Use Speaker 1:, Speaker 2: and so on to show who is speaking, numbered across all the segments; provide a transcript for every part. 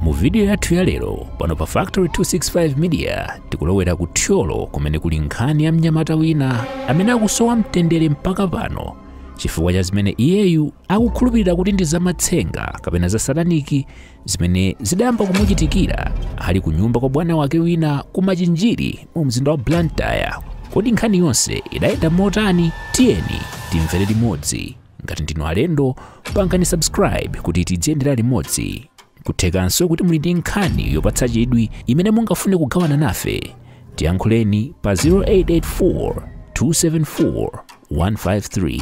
Speaker 1: mu vidiyo yathu ya lero pano pa factory 265 media tikulowera ku thyolo kumene kuli nkhani ya mnyamata wina amene akusowa mtendere mpaka pano chifukwa cha zimene iyeyu akukhulupirira kuti ndi zamatsenga kapena za sataniki zimene zidayamba kumuchitikira ali ku nyumba kwa bwana wake wina ku machinjiri mu mzinda wa blantyre kodi nkhani yonse idayenda motani tiyeni timvere limodzi ngati ndinu alendo pangani subscribe kuti tidziyendera limodzi kuthekanso kuti muli ndi nkhani yopatsa chidwi imene mungafune kugawana nafe tiyankhuleni pa 0884 274 153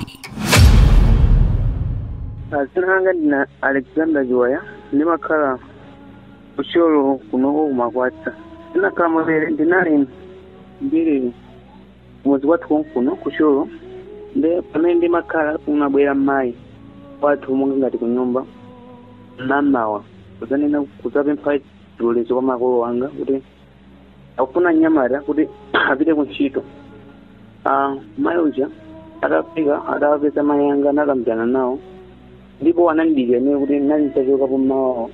Speaker 2: Ah, Dzina langa ndine Alexander Joya ndimakhala ku thyolo konkuno ku makwasa zinakhala motere ndinali ndili mudzi kwathu konkuno ku thyolo nde pamene ndimakhala kunabwera mayi wathu monga ngati kunyumba mamawa kudzanena kudzapempha chilolezo kwa makolo anga kuti akufuna mnyamata kuti apite ku ntchito Ah, mayi uja atafika atawapeza mayi anga anakambirana nawo ndipo anandidikira ine kuti ndinali nditachokapo mmawawo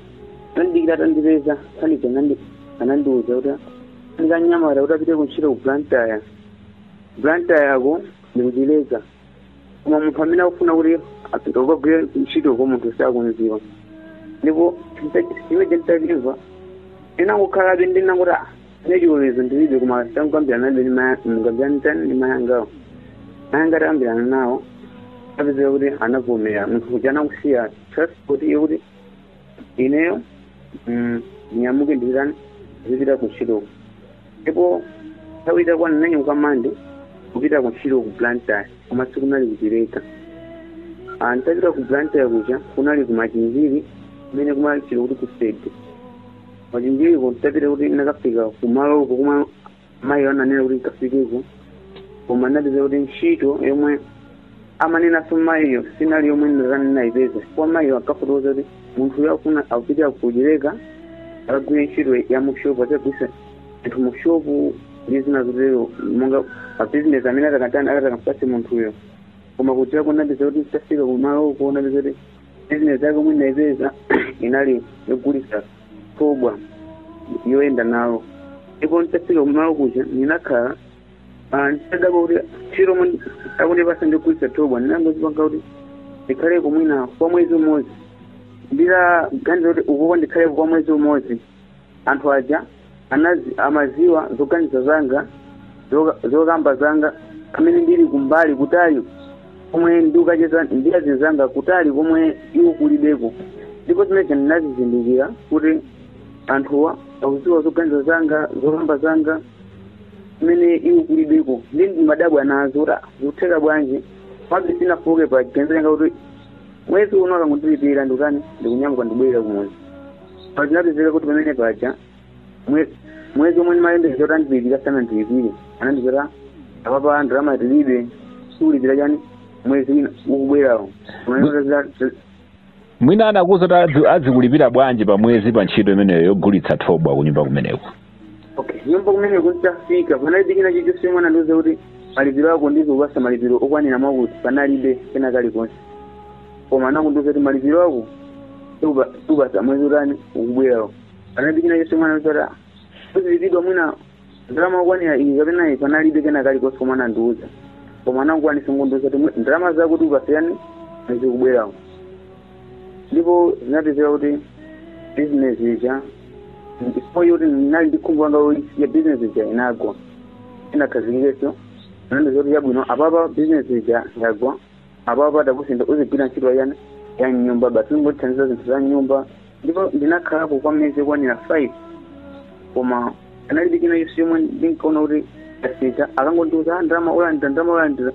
Speaker 2: anandidikira atandipeza anthu aja anandiuza kuti ndikamnyamata kuti apite kuntchito ku blantyre blantyre yake ndi ku chileka koma munthu amene akufuna kuti apite ukagwire ntchito ko munthuyo sakumudziwa ndipo ine nditamva ndinangokhalabe ndinangoti "Ah, ine chilolezo ndilibe koma tangokambiranani nabe kambiranani ndi mayi angawo mayi anga atakambirana nawo anapezeka kuti anavomera munthu uja anasiya transport iyo kuti ineyo ndinyamuke ndizitani ndizipita ku ntchito ndipo nthawi itakwana ndinanyamuka monday kupita ku ntchito ku blantyre koma sikunali ku chileka Ah, nditapita ku blantyre kuja kunali ku machinjiri kumene kumatchedwa kuti ku sede machinjiriko nditapita kuti ndinakafika kumaloko kumwe mayiyo ananena kuti ndikafikeko koma ndinapeza kuti ntchito yomwe amanenanso mayiyo sinali yomwe ndinayipeza kwa mayiyo ankafotokoza kuti munthu uyo akufuna apite ku chileka akagwire ntchito ya mushopu azikagulitsa zinthu mushopu ndi zina zotero monga mabizinesi amene atakatani atakampatse munthuyo koma kudzera ndinapeza kuti nditafika kumalo uko ndinapeza kuti bizinesi yake yomwe ndinayipeza inali yogulitsa thobwa yoyenda nalo ndipo nditafika kumalo kuja ndinakhala ah, nditadabwa kuti ntchito yomwe akundipatsa ndi yogulitsa thobwa ndinangozipanga kuti ndikhaleko mwina kwa mwezi umodzi nditaganiza kuti ukoko ndikhaleko kwa mwezi umodzi anthu aja anazi, amadziwa zoganiza zanga zoka- zokamba zanga amene ndili kumbali kutali komwe ndikacheza ndi azinzanga kutali komwe iwo kulibeko ndipo zimenezo ndinazizindikira kuti anthuwa akudziwa zoganiza zanga zokamba zanga amene iwo kulibeko ndi ndimadabwa nazo kuti ah, zikutheka bwanji pabe sindinafooke pa chiganizo changa kuti mwezi uno akangondilipira ndikutani ndikunyamuka ndibwerera kumudzi koma zinapezeka kuti pamene paja Mwe- mwezi omwe ndimayembekeza kuti andilipira sanandilipire anandiuza kuti apapa ndalama tilibe tikulipira chani mwezi wina ukubwerawo
Speaker 3: mwina anakuuza kuti adzi- adzikulipira bwanji pa mwezi pa ntchito imeneyo yogulitsa thobwa kunyumba kumeneko okay kunyumba
Speaker 2: kumeneko nditafika panalibe china chilichonse chomwe anandiuza kuti malipiro ako ndidzakupatsa malipiro okwanira mwakuti panalibe kena kalikonse koma anangondiuza kuti malipiro ako tikupa- tikupatsa mwezi utani ukubwerawo panalibe china chilichonse chomwe anandiuza kuti uzilipidwa mwina ndalama yokwanira iyi kapena iyi panalibe kena kalikonse komwe anandiuza koma anangokwanitsa kundiuza kuti mwe- ndalama zako tikupatsa chani mwezi ukubwerawo ndipo zinapezeka kuti business ija ndipo yoti ndinali ndi khumbo nayo business ija inagwa itakhazikikanso anandiuza kuti chabwino apapa business ija yagwa apapa takusintha uzigwira ntchito yanji ya mnyumba basi uzingotithandiza zinthu za mnyumba ndipo ndinakhalako kwa miyezi yokwanira five koma panalibe china chilichonse chomwe ndinkaona kuti chasintha ankangondiuza "Ah, ndalama ulandira ndalama ulandira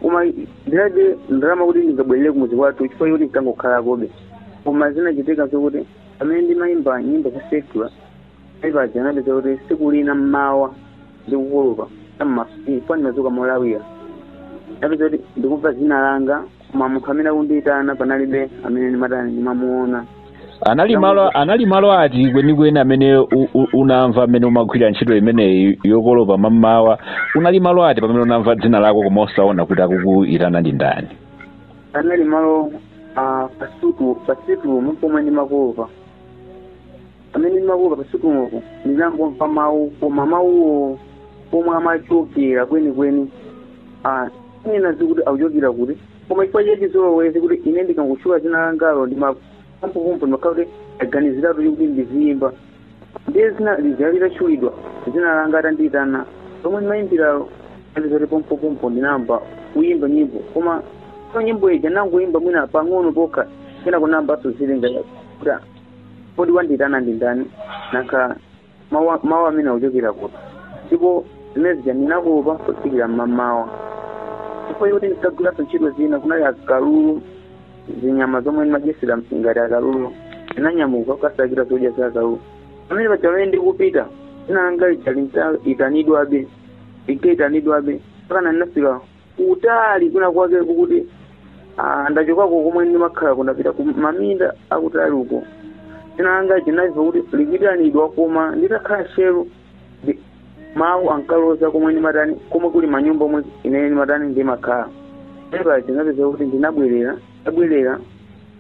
Speaker 2: koma ndinalibe ndalama kuti ndingabwerere kumudzi kwathu chifukwa choti ndinkangokhalakobe koma zinachitika zokuti amene ndimayimba nyimbo za secular Paja zinapezeka kuti tsiku lina mmawa ndikukolopa pamene ndinadzuka molawira ndinapeza kuti ndikumva dzina langa koma munthu amene akundiyitana panalibe amene ndimatani ndimamuona anali malo
Speaker 3: anali malo ati kwenikweni amene u- u- unamva amene umagwira ntchito imeneyi yokolopa mmamawa unali malo ati pamene unamva dzina lako koma osaona kuti akukuyitana ndi ndani panali
Speaker 2: malo ah, pasitu pasitu pomwe ndimakolopa Pamene ndimakolopa pa situmupo ndinangomva mawu koma mawuwo pomwe amachokera kwenikweni ah, sindikudziwa kuti akuchokera kuti koma chifukwa cha chizolowezi kuti ine akangotchula dzina langalo ndimampupumpu ndimakhala kuti aganiziratu kuti ndiziyimba ndiye dzina lija litatchulidwa dzina langa atandiyitana lomwe ndimayimbiralo ndi zoti pompopompo ndinayamba kuyimba nyimbo komanso nyimbo ija nangoyimba mwina pang'ono pokha kenako ndinamvanso zilinga kuti kodi wandiyitana ndi ndani nanga mawu amene akuchokera kuti ndipo zimene zija ndinakolopa kufikira mmamawa chifukwa choti ndikagwiranso ntchito zina kunali akalulu zinyama zomwe ndimadyetsera ngati akalulu ndinanyamuka kukasakira zodya za akalulu pamene paja pamene ndikupita dzina langa lija linkaitanidwabe linkaitanidwabe mpaka ndinafika kutali kwina kwake kokuti ah, ndachokako komwe ndimakhala nditapita ku maminda akutali uko dzina langa ndinamva kuti likuitanidwa koma nditakhala tcheru mawu ankaloza komwe ndimatani komwe kuli manyumba omwe inene ndimatani ndimakhala eya ndinapeza kuti ndinabwerera ndabwerera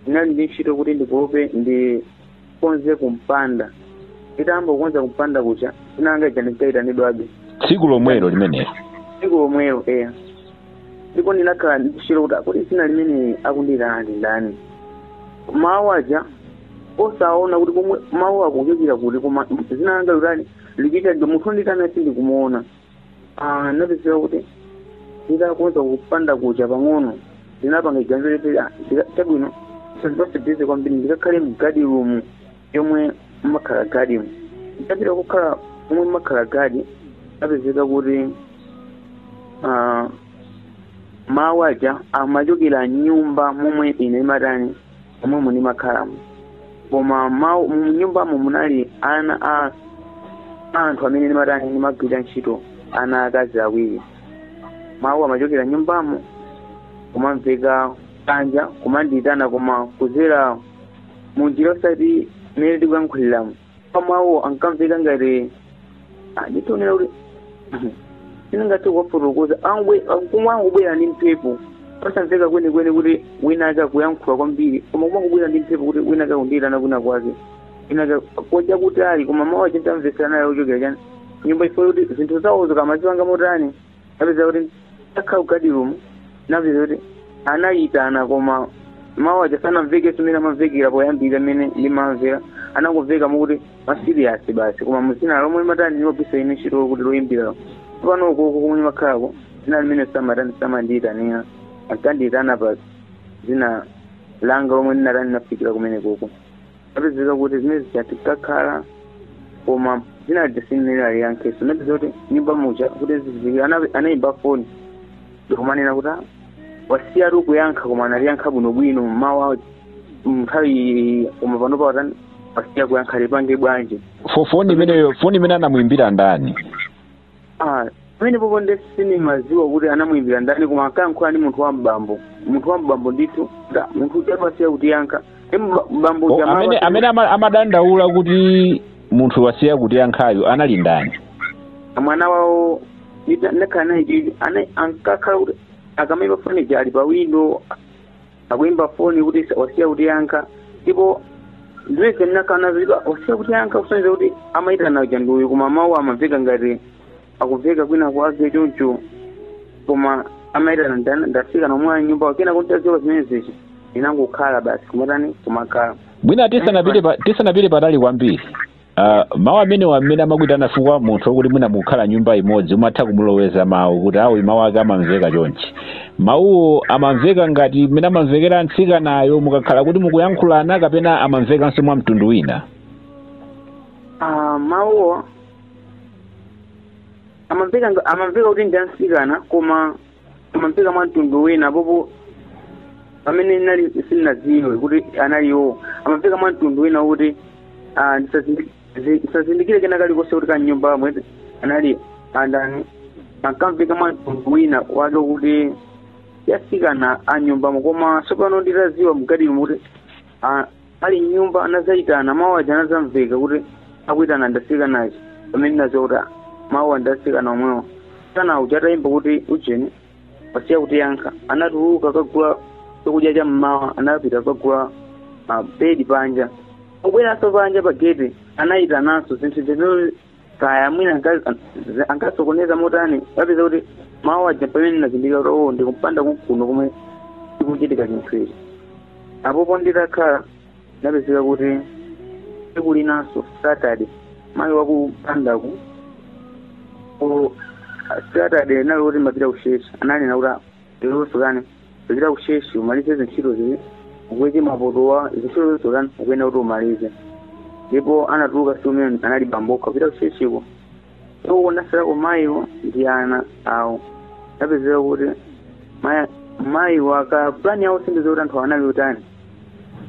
Speaker 2: ndinali ndi ntchito kuti ndikolope ndi ndikonze kumpanda nditayamba kukonza kumpanda kuja dzina langa lija linkaitanidwabe tsiku lomwelo
Speaker 3: limenelo tsiku lomwelo
Speaker 2: eya ndipo ndinakhala ndi kulusira kuti kodi dzina limene akundiyitana ndi ndani mawu aja osaona kuti komwe mawu akuchokera kuti koma dzina langa likutani likuitanidwa munthu ondiitana sindikumuona Ah, ndinapezeka kuti nditakonza kumpanda kuja pang'ono ndinapanga chiganizo loti ah, ndika- chabwino zandipatsa bize kwambiri ndikakhale mgadi rumu yomwe mumakhala gadimu nditapita kukhala momwe mumakhala gadi ndapezeka kuti ah, mawu aja amachokera mnyumba momwe ine ndimatani momwemo ndimakhalamo koma mawu mnyumbamo munali ana a a anthu amene ndimatani ndimagwira ntchito ana akazi awiri mawu amachokera mnyumbamo kumamveka panja kumandiyitana koma kudzera munjira osati mmene tikuyankhuliramo koma mawu ankamveka ngati ah, nditonena kuti sindingathe kuwafotokoza akungobwera ndi mphepo osamveka kwenikweni kuti wina ake akuyankhula kwambiri koma kumangobwera ndi mphepo kuti wina ake akundiyitana kwina kwake wina ake koja kutali koma mawu aja nditamvetsera nawo akuchokera chani nyumba chifukwa choti zinthu zawo zikamazipanga motani napeza kuti nditakhala kugadi rumu napeza kuti anayitana koma mawu aja sanamvekenso mmene amamvekera poyambira mmene ndimamvera anangomveka mokuti masiriyasi basi koma mudzina lomwe ndimatani ndimagwiritsa ine ntchito lokuti loyimbira panopo konko kumene ndimakhalako dzina limene samatani samandiyitanira ankandiyitana pa dzina langa lomwe ndinatani nafikira kumene konko napezeka kuti zimene zija nditakhala koma dzina lija sindinaliyankhenso napeza kuti mnyumba muja kuti zizikira ana- anayimba foni ndikumanena kuti "Ah, wasiyatu kuyankha koma amaliyankha bwinobwino mmawu awo mnthawi koma panopa watani wasiya kuyankha ndipange bwanji Fo- foni imeneyo
Speaker 3: foni imene anamuimbira ndani
Speaker 2: Ah, pamenepopo nde sindimadziwa kuti anamuimbira ndani koma ankayankhula ndi munthu wa m'bambo munthu wa m'bambo ndithu munthu ujatu wasiya kutiyankha ndi mba- mbambo O, uja amene mawa- amene ama-
Speaker 3: amadandaula kuti munthu wasiya kutiyankhayo anali ndani
Speaker 2: mwana wawo ndita- ndakhala naye chili ana- ankakhala kuti akamaimba foni ija ali pa windo akuimba foni kuti wasiya kutiyankha ndipo ndimene ndinakhala nazo ndipo wasiya kutiyankha kusonyeza kuti amayitana uja ndi uyu koma mawu amamveka ngati akumveka kwina kwake choncho koma amayitana ndana- ndafika momwe m'nyumba kenako nditadziwa zimenezi ndinangokhala basi kumatani kumakhala bwino tisanapite
Speaker 3: pa- tisanapite patali kwambiri Uh, mawu amenewa amene amakuitana fukwa munthu okuti mwina mukukhala nyumba imodzi umatha kumuloweza mawu kuti awa mawu ake amamveka chonchi mawuwo amamveka ngati mmene amamvekera mtsikanayo mukakhala kuti mukuyankhulana kapena amamvekanso mwa mtundu wina
Speaker 2: Ah, mawuwo amamveka nga- amamveka kuti ndi amtsikana koma amamveka mwa mtundu wina popo pamene nali sindinadziwe kuti anali iwo amamveka mwa mtundu wina kuti ah, ndisazindi- zi- ndisazindikire kena kalikonse kuti kaya mnyumbamo anali andani ankamveka mwa mtundu wina wake kuti atsikana a mnyumbamo koma tsopano nditadziwa mgadimu kuti ah, ali mnyumba anazayitana mawu aja anazamveka kuti akuyitana ndi atsikanatu pamene ndinadziwa kuti mawuwa ndi atsikana omwewo mtsikana uja atayimba kuti ujeni wasiya kutiyankha anatuluka kukagula chakudya cha mmawa anapita kukagula buledi panja pobweranso panja pa gate anayitananso zinthu zimene kaya mwina anka- z- ankasokoneza motani kupeza kuti mawu aja pamene ndinazindikira kuti oo ndikumpanda kuno komwe chikuchitika chinthu ichi apopo nditakhala inapezeka kuti tsiku linanso saturday mayi wakumpandaku ku saturday anali kuti amapita kutchetchi ananena kuti lero sukatani kupita kutchetchiko umalize zintchito zimene ukweche mapotowa zintchito zonse utani ukuyenera kuti umalize ndipo anatuluka tsiku limenelo anali bambokha kupita kutchetchiko so anatsalako mayiwo ndi ana awo napezeka kuti maya- mayiwo aka pulani yawo sindidziwa kuti anthu anali otani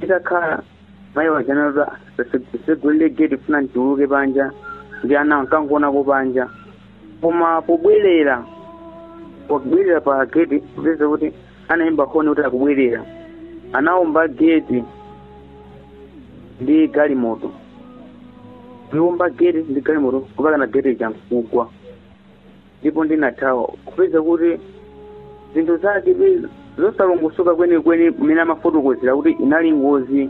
Speaker 2: itakhala mayi aja anati tsegulire geti ndikufuna ndituluke panja ndi ana anakagonako panja koma pobwerera pobwerera pa geti kupeza kuti anayimba honi kuti akubwerera anaomba geti ndi galimoto ndi kuomba geti ndi galimoto mpakana geti lija nkugwa ndipo ndinathawa kupeza kuti zinthu zake zosalongosoka kwenikweni mmene amafotokozera kuti inali ngozi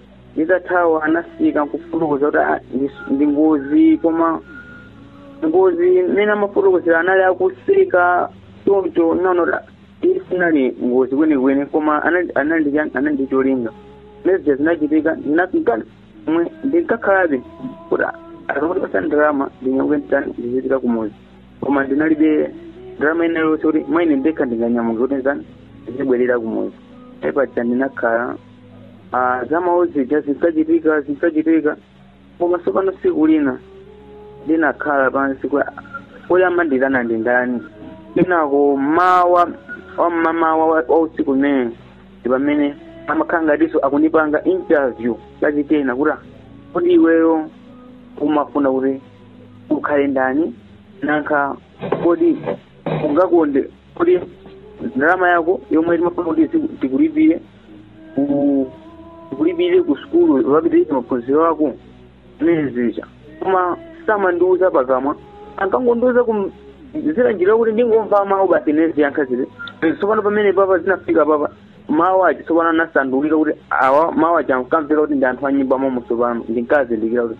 Speaker 2: nditathawa anafika nkufotokoza kuti ah, ndi- ndi ngozi koma ngozi mmene amafotokozera anali akuseka choncho nanota isinali ngozi kwenikweni koma anali- anali ndi cha- anali ndi cholinga zimene zija zinachitika ndinafika mwezi ndinkakhalabe kuti akandipasa ndalama ndinyamuke nditani ndizipita kumuzi koma ndinalibe ndalama ina yonse kuti mwina ine ndekha ndinganyamuke kuti nditani ndizibwerera kumuzi apaja ndinakhala ah, za mawu zija zinkachitika zinkachitika koma tsopano tsiku lina ndinakhala pansi kuyamba kuitana ndi ndani kenako mawa wamamawa wa wa usiku umene ndi pamene amakhala ngatinso akundipanga interview yachikena kuti kodi iweyo umafuna kuti ukhale ndani nanga kodi ungakonde kodi ndalama yako yomwe timafuna kuti zi- tikulipire ku- tikulipire ku sukulu ukapitirize maphunziro ako zimene zija koma samandiuza pakamwa ankangondiuza kum- zira njira yokuti ndingomva mawu basi ine ndiziyankha zija tsopano pamene papa zinafika papa mawu aja tsopano anasandulika kuti awa mawu aja ankamveka kuti ndi anthu a m'nyumba momo tsopano ndinkazindikira kuti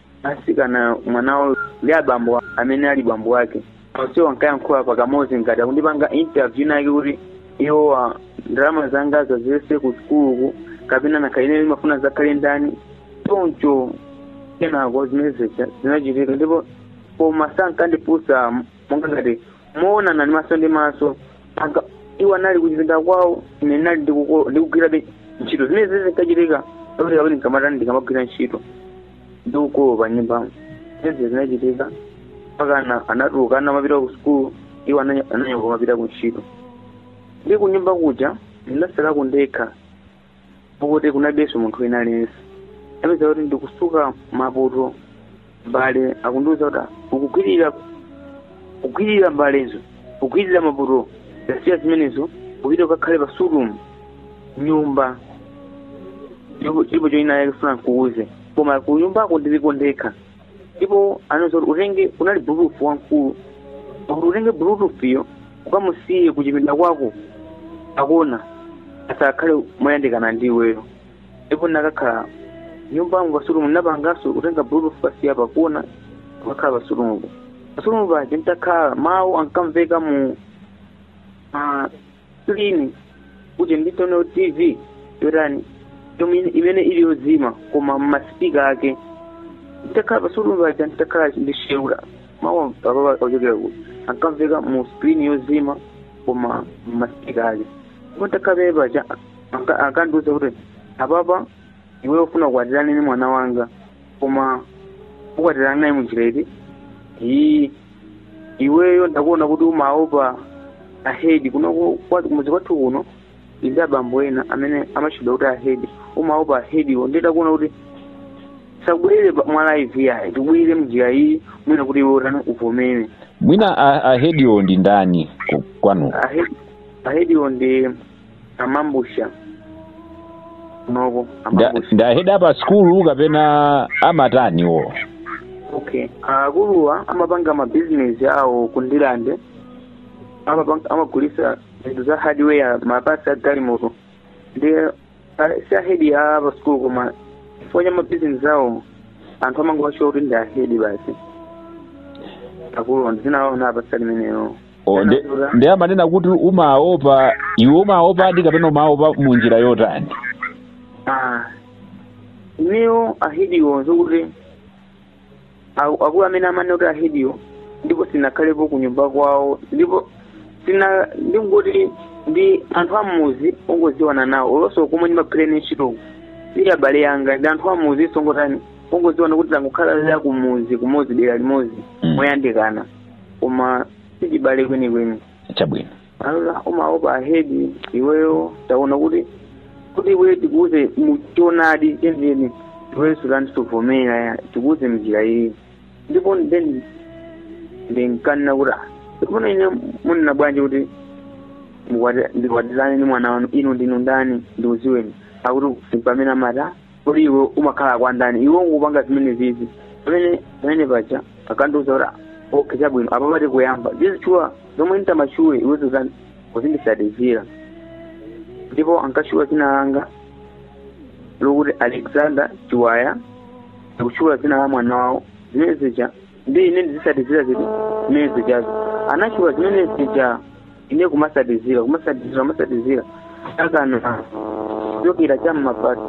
Speaker 2: mtsikana mwana wawo ndi abambo a- amene ali bambo wake onsewo ankayankhula pakamodzi ngati akundipanga interview inayake kuti iweyo ndalama zangazi zonse ku sukuluku kapena nanga ine ndimafuna uzakhale ndani choncho kenako zimene zija zinachitika ndipo koma sankandifunsa monga ngati moonana ndi maso ndi maso mpaka iwo anali kuchipinda kwawo ine ndinali ndikuko- ndikugwirabe ntchito zimene zimene zinkachitika kuti kapena ndikamatani ndikamagwira ntchito ndikukolopa pa nyumbamo zimene zinachitika mpaka ana- anatuluka ana amapita ku sukulu iwo ananya- ananyamuka amapita ku ntchito ndi kunyumba kuja ndinasalako ndekha pokuti kunalibenso munthu wina aliyense ndinapeza kuti ndikusuka mapoto mbale akundiuza kuti ukugwirira ukugwirira mbalezo ukugwirira mapoto tasiya zimenezo upite ukakhale pasitulu m'nyumba chilipo china chake ndikufuna ndikuuze koma kunyumbako ndiliko ndekha ndipo anandiuza kuti utenge kunali bluetooth wamkulu kuti utenge bluetoothyo ukamusiye kuchipinda kwako pakona asakhale moyandikana ndi iweyo ndipo ndinakakhala m'nyumbamo pasitulu ndinapanganso kutenga bluetooth kusiya pakona kukakhala pasitulupo pasitulu paja nditakhala mawu ankamveka mu ah, screen kuti nditani TV yotani yomwe- imene ili yozima koma masipika ake nditakhala pa stool paja nditakhala ndishewula mawu apa akuchokera kuti ankamveka mu screen yozima koma masipika ake ndipo nditakhala penepaja anka- ankandiuza kuti apapa iwe ufuna ukwatirane ndi mwana wanga koma ukwatirana naye munjira iti iyi iweyo ndakuona kuti umaopa ahedi kuno ku- kwa- kumudzi kwathu kuno ndi abambo ena amene amatchedwa kuti ahedi umaopa ahediwo ndiye ndakuona kuti tisakubwerere pa- mwa live yayi tikubwerere mnjira iyi mwina kuti iwe utani uvomere mwina a-
Speaker 3: ahediwo ndi ndani ku- kwanu ahedi ahediwo
Speaker 2: ndi amambu- Nda- ndi ahedi a pa
Speaker 3: sikulu kapena amatani
Speaker 2: wo okay akuluwo amapanga mabizinesi awo ku Ndirande amapanga- amagulisa zinthu za hardware mapartsi a galimoto ndi ah, si ahedi a pa sikulu koma chifukwa cha mabizinesi awo anthu amangowatchula kuti ndi ahedi basi akuluwo ndi dzina anawapatsa limenelo O, nde-
Speaker 3: nde amanena kuti umaopa iwe umaopadi kapena umaopa mu njira yotani
Speaker 2: Ah, ineyo ahediwo nzokuti aku- akulu amene amanena kuti ahediwo ndipo sinakhalepo ku nyumba kwawo ndipo sina ndingoti ndi anthu ammuzi ongoziwana nawo olonso komwe ndimagwira ntchitoko si abale anga ndi anthu ammuzi ongotani ongoziwana kuti tangokhala za kumuzi kumuzi dera limodzi Mm. moyandikana koma sichibale kwenikweni
Speaker 3: chabwino ona
Speaker 2: umaopa ahedi iweyo taona kuti kuti iweyo tikuuze muchonadi chenicheni iweyo sutani suvomera tikuuze mnjira iyi ndipo then ndinkanena kuti "Ah, tsopano ine munena bwanji kuti mukwati- ndikwatirane ndi mwana wanu inu ndinu ndani ndikudziweni akuti pamene amati "Ah, kodi iwe umakhala kwa ndani iwe uzingopanga zimenezizi pamene pamene paja akandiuza kuti okay chabwino apa pafunika kuyamba ndizitchula zomwe nditamatchule iwe uzindisatizira ndipo ankatchula dzina langa lokuti alexander chiwaya ndikutchula dzina la mwana wawo zimene zija ndiye ine ndizisatizira zinthu zimene zijazo anatchula zimene zija ine kumasatizira kumasatizira kumasatizira mpakana kuchokera cha mma past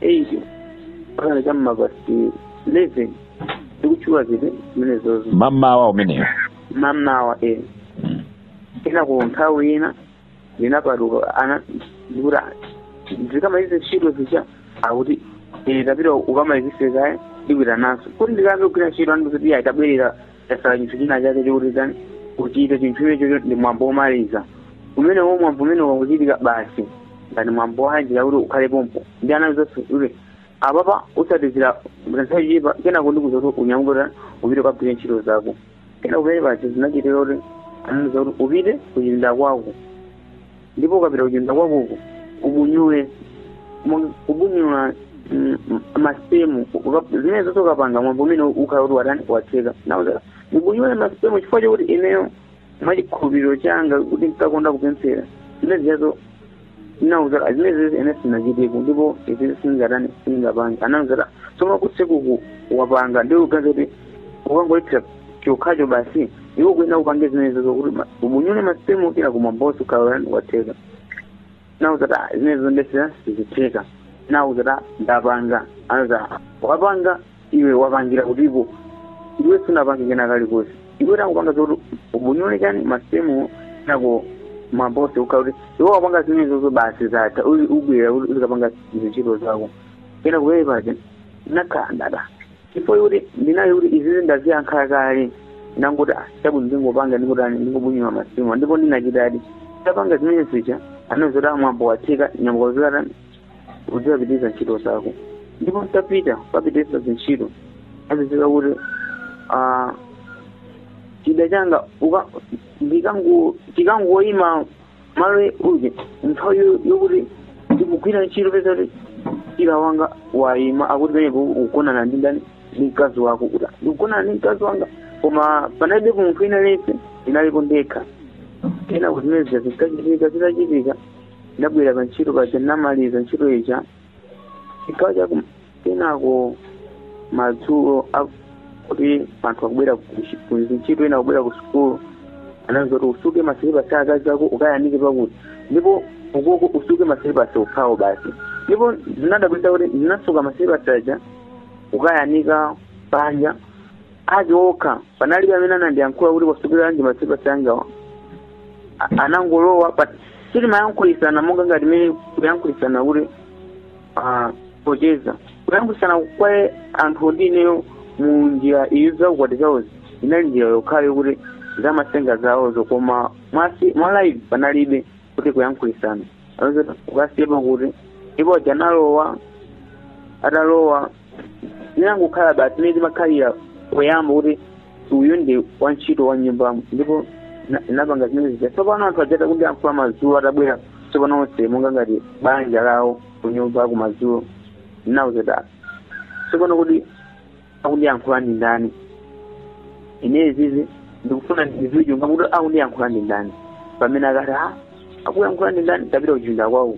Speaker 2: eight mpakana cha mma past eleven ndikutchula zinthu zimenezozo mmamawa umenewo mmamawa e Mm. ina ku nthawi ina ndinapatuka ana ndikuti ndikamalize ntchito zija akuti ine tapita ukamalizise kaye ndikuitananso kuti ndikayambe kugwira ntchito andikuti iyayi tabwerera tasala chinthu china chake chokuti tani kuchita chinthu chimenecho ndi mwambo womaliza umene wo mwambo umene wakuchitika basi ngati mwambo wanjira yakuti ukhale pompo ndi ana zonse kuti apapa usatizira nthawi kenako ndikuuza kuti unyamuke upite ukagwire ntchito zako kenako mmene paja zinachitika kuti anandiuza kuti upite kuchipinda kwako ndipo ukapita kuchipinda kwakoko ubunyule Mo- kubunyula mm, mm, masipemu Uka- zimene zonse ukapanga mwambo umene ukhala kuti watani watheka nauza ubunyule masipemu chifukwa chokuti ineyo mwa chikhulupiriro changa kuti ndinkakonda kupemphera zimenezijazo nauza zimenezizi ine sindinachiteko ndipo izi sindingatani sindingapange anauza tsoma kutsekuku wapanga ndiye ukuganiza kuti ukangoyithira chokhacho basi iwo kunena upange zimenezo zokuti ma- ubunyule masipemu kenako mwambo uzikhala kuti watheka nawauza kuti "Ah, zimenezo ndesera sizitheka nawauza kuti "Ah, ndapanga anza wapanga iwe wapangira kutipo iwe sunapange kenakalikonse iwe takupanga zokuti ubunyule chani masipemu kenako mwambo uzikhala kuti iwe wapanga zimenezozo basi zatha uli ubwera kuti uzikapanga zintchito zako kenako ine paja nakhala chifukwa kuti ndinali kuti izizi ndaziyankha kale ndangoti "Ah, chabwino ndingopanga ndikutani ndingobunyula masipemu ndipo ndinachitadi tapanga zimene zija anandiuza kuti mwambo watheka nyamuka uzikatani uzikapitiriza ntchito zako ndipo nditapita kupitiriza zintchito azizika kuti ah, chida changa uka- ndikango- chikangoyima malo uje nthawi yo- yokuti ndikugwira ntchito kupeza kuti chira wanga wayima akuti penepo ukugonana ndi ndani ndi mkazi wako kuti ndikugonana ndi mkazi wanga koma panalibe munthu wina aliyense ndinalipo ndekha kenako zimenezi zikachitika zitachitika ndabwera pa ntchito paja ndinamaliza ntchito ija chigawo cha kum- kenako madzulo a- kuti anthu akubwera kuntchito ena akubwera ku sukulu anandiuza kuti usuke masilipasi a akazi ako ukayanike pakuti ndipo ukoko usuke masilipasi okhawo basi ndipo zinadabwitsa kuti ndinasuka masilipasi aja kukayanika panja ake okha panalibe amene anandiyankhula kuti wasukiranji masilipasi angawa A- anangolowa but sitimayankhulitsana monga ngati mmene kuyankhulitsana kuti ah, pocheza kuyankhulitsana kwa anthu ndi ineyo mu njira iyo zaukwati zawozi inali njira yokhayo kuti zamasenga zawozo koma mwasi mwa live panalibe kuti kuyankhulitsana ukasiyapo kuti ndipo aja analowa atalowa zinangokhala basi imene timakhalira poyamba kuti uyu ndi wantchito wa nyumbamo ndipo na- napanga zimene zija tsopano anthu ajata kuti anthu amadzulo atabwera tsopano onse monga ngati banja lawo kunyumba kumadzulo ndinawauza tsopano kuti akundiyankhula ndi ndani ine izizi ndikufuna ndidziwe chunga kuti akundiyankhula ndi ndani pamene akuti a akuyankhula ndi ndani tapita kuchipinda kwawo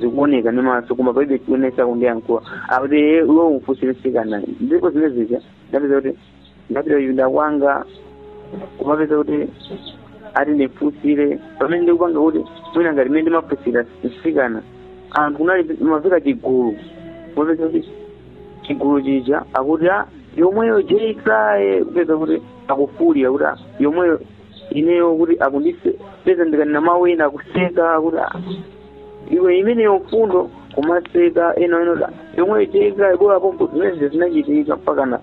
Speaker 2: zikuoneka ndi maso koma palibe chionesa kundiyankhula akuti "Eh, iwe umfunsire msikana ndipo zimene zija ndapeza kuti ndapita kuchipinda kwanga kumapeza kuti ati ndimfunsire pamene ndikupanga kuti mwina ngati mene ndimafunsira msikana anthu kunali mavika chigulu kumapeza kuti chigulu chija akuti a yomweyo jeisaye kupeza kuti akufulira kuti "Ah, yomweyo ineyo kuti akundipeza ndikanena mawu ena akuseka kuti "Ah, iwe imeneyo mfundo kumaseka ena ena yomweyo jeika bola pompo zimene zinachitika mpakana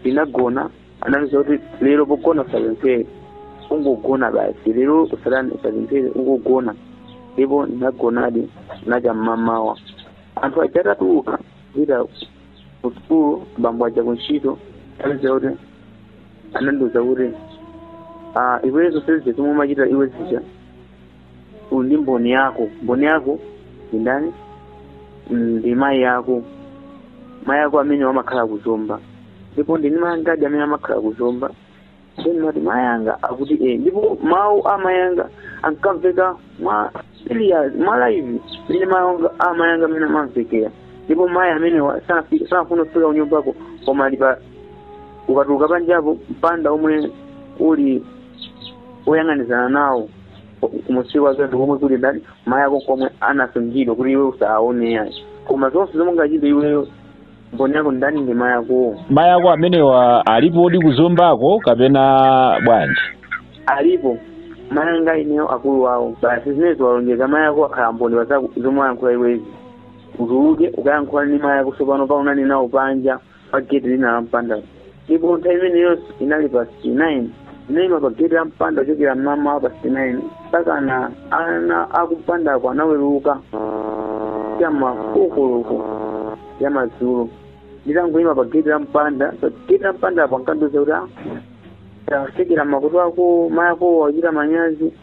Speaker 2: ndinagona anandiuza kuti lero pogona usapemphere ungogona basi lero usatani usapemphere ungogona ndipo ndinagonadi kunacha mmamawa anthu aja atatuluka kupita ku sukulu abambo aja ku ntchito apeza kuti anandiuza kuti ah, iwe zonse zija zomwe umachita iwe zija uli ndi mboni yako mboni yako ndi ndani ndi mayi yako mayi yako amene amakhala kuzomba ndipo ndili ndi mayi angadi amene amakhala kuzomba Ndimati mayi anga akuti eh, ndipo mawu a mayi anga ankamveka mwa serious mwa live mmene mayi anga a mayi anga amene amamvekera ndipo mayi amenewa sanafi- sanafune kufika kunyumbako koma ali pa ukatuluka panjapo mpanda omwe uli oyang'anizana nawo kumunsi kwake ndi komwe kuli ndani mayi ako komwe anasungidwa kuti iwe usaone yayi koma zonse zomwe ungachite iweyo mboni yako ndani ndi mayi ako mayi ako
Speaker 3: amenewa alipodi kuzombako kapena bwanji alipo
Speaker 2: mayi anga ineyo akulu wawo basi zimenezo walonjeza mayi ako akhala mboni pa zako- zomwe wayankhula iwezi utuluke ukayankhule ndi mayi ako sopano kaonane nawo panja pa geti lina la mpanda ndipo nthawi imeneyo inali past 9 ndinaima pageti la mpanda kuchokera mmamawa past 9 mpakana ana akumpandako anaweruka cha ma 4 koloko ya madzulo nditangoima pageti la mpanda pageti la mpandapo ankandiuza kuti "Ah, tafikira makolo ako mayako achita manyazi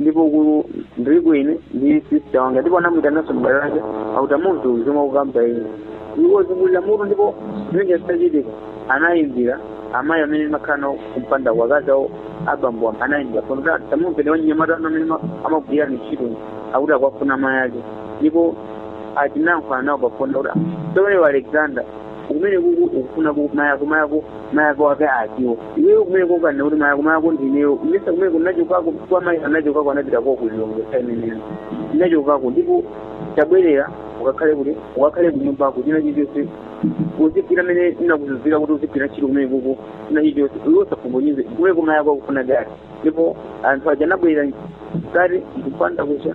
Speaker 2: ndipo ku ndiri kuine ndi sista wanga ndipo anamuitananso m'bale wake akuti munthu zomwe akukamba uyu wazungulira mutu ndipo zimene zitachitika anayimbira amayi amene ndimakhala nawo kumpanda wakazi awo abambo anayimbira koma tamumveni anyamata anu amene ma- amagwira ntchito akuti akuwafuna amayi ake ndipo atayankhulana nawo pafoni akuti sowewa alexander kumene kuku ukufuna ku mayako mayako mayako ake akiwo iweyo kumene kokana kuti mayako mayako ndineyo mesa kumene kunachokako kwa mayi anachokako anapita kwa ku Lilongwe saimeneyo nachokako ndipo tabwerera ukakhale kuti ukakhale kunyumba kuchina chilichonse uzigwira mene ndinakuuzira kuti uzigwira ntchito kumene kuku china chilichonse iwe usafumbonyize kumene kumayako akufuna gari ndipo anthu aja anabwerera gari ndikupanda kucha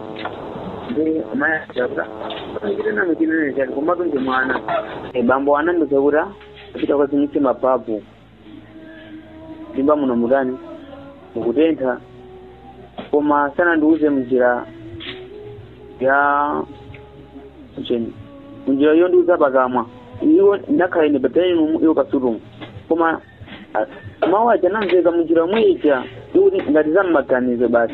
Speaker 2: ndiye mayi chitani chinenetani koma watundiye mwana Eh, bambo anandiuza kuti pita ukazimitse mababu ndimba muno mutani mukutentha koma sanandiuze munjira ya cheni munjira yo ndiuza pakamwa iwo nakhala ine pataninu iwo pasitumu koma ah, mawu aja anamveka munjira yomwe ija ikuti ngati za m'maganizo basi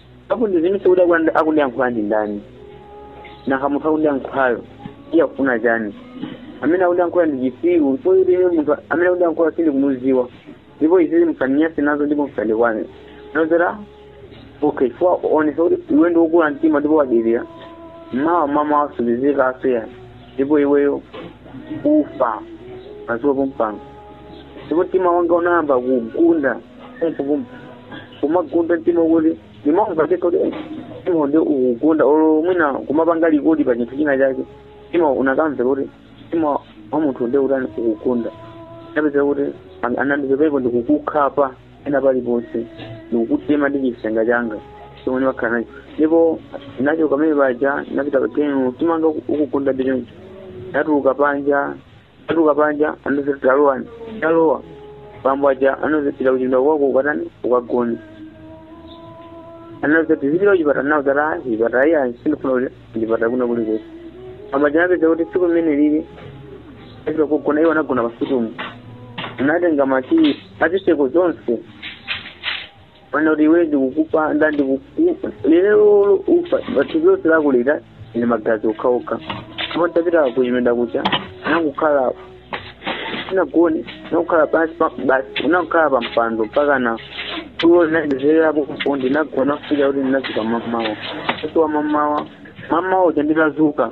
Speaker 2: ndikudzifunsa kuti akuti akundiyankhula ndi ndani nanga munthu akundiyankhulayo iye akufuna chani amene akundiyankhula ndi chisiru ndipo ine munthu amene akundiyankhula sindikumuziwa ndipo izizi musandinyase nazo ndipo musandikwane nazo okay chifukwa onesa kuti iwe ndi wokula mtima ndipo wadelera mawa mama masabizika asiya ndipo iweyo ufa madzulo pompano ndipo mtima wanga unayamba kugunda kumfukumfu kumagunda mtima kuti ndimamva ndekha kuti "Eh, mtima ndi ukugunda olo mwina kumapanga likodi pa chinthu china chake mtima unakamva kuti mtima wa munthu ndi utani ukugunda ndapeza kuti an- anandipepepo ndikukukhapa ena paliponse ndikukutema ndi chisenga changa chomwe ndimakhala nacho ndipo nacho kamene paja napita pa gemu timanga ukugunda ndi choncho natuluka panja Atuluka panja anandiuza talowani talowa bambo aja anandiuza pita kuchipinda kwako ukatani ukagone anaziti zipita kuchipata nawo zata chipata iya sindifuna kuti chipata kuna kulikonse bambo aja anapeza kuti tsiku limene lili azira kugona iwo anagona pasitumu anatenga makiyi a zitseko zonse amati kuti iwe ndikukupanda ndikukupha lero ufa thupi lonse lako likhala ndi magazi okhaokha koma tapita kuchipinda kuja nakukhala sindinagone nakukhala pansi pa- basi nakukhala pa mpando mpaka na tulo linandipezerapo kupo ndinagona kufikira kuti ndinazuka mamawa kusowa mamawa mamawa uja nditazuka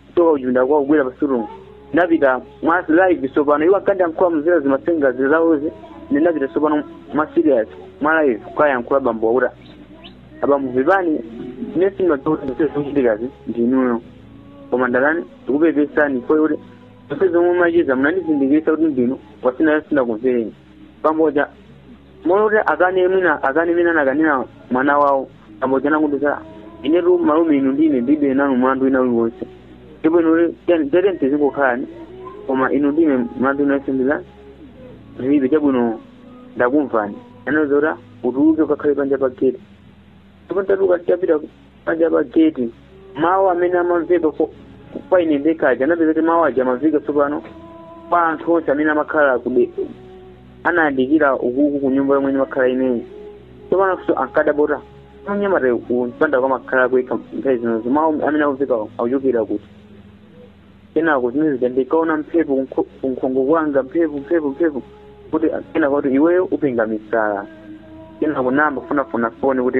Speaker 2: kuchoka kuchipinda kwawo kubwera pa sitting room napita mwa live tsopano iwo ankandiyankhula mudzera zimasenga za zawozi ndinapita tsopano mwa serious mwa live kukayankhula bambowa kuti abambo pepani ine zimene zikuchitikazi ndinuyo koma ndalapa ndikupepesani fodi kuti zonse zomwe macheza munandizindikirisa kuti ndinu wasina sindinakumvereni pamodzi moti akane mwina akane mmene anakanira mwana wawo amodzi anandiuza inetu malume inu ndine ndibe nanu mlandu wina uliwonse ndipo inu tete tizingokhalani koma inu ndine mlandu wina uliwonse ndilibe chabwino ndakumvani anandiuza utuluke ukakhale panja pa gate ndipo ndatuluka ndapita panja pa gate mawu amene amamveka ko- kwa ine ndekha aja anapeza kuti mawu aja amamveka tsopano kwa anthu onse amene amakhala kude anayandikira ukuku ku nyumba yomwe ndimakhala ineyi tsopano so ankadabota mnyamatayu kumpanda kwamakhala yekha nthawi zonsezo mawu amene akumvekawo akuchokera kuti kenako zimene zija ndikaona mphepo kunkhongo kwanga mphepo mphepo mphepo kuti kenako kuti iweyo upenga misala kenako ndayamba kufunafuna foni kuti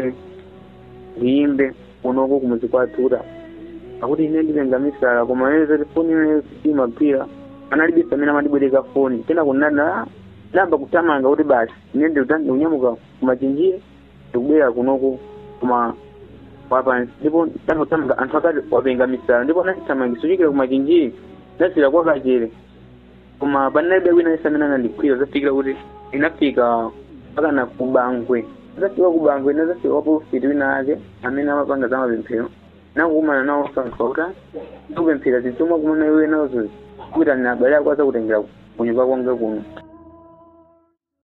Speaker 2: ndiyimbe kunoko kumuzi kwathu kuti akuti ine ndipenga misala koma yeye zoti foni imeneyo imagwira analibe pamene amandibwereka foni kenako ndinayamba kuthamanga kuti basi ine ndikunyamuka kuMachinjiri ndikubwera kunoko koma wapansi ndipo ndangothamanga anthu akuti wapenga misala ndipo anandithamangisa kuchokera kuMachinjiri ndafika kwa Kachere koma panalibe wina aliyense amene anandigwira zafikira kuti ndinafika mpakana kuBangwe nditafika kuBangwe ndinazafika kwa polofiti wina ake amene amapanga za mapemphero nakukumana nawo anthu akuti ndikupempherera zinthu zomwe wakumana iwe nazo uyitane abale ako azakutengere kunyumba kwanga kuno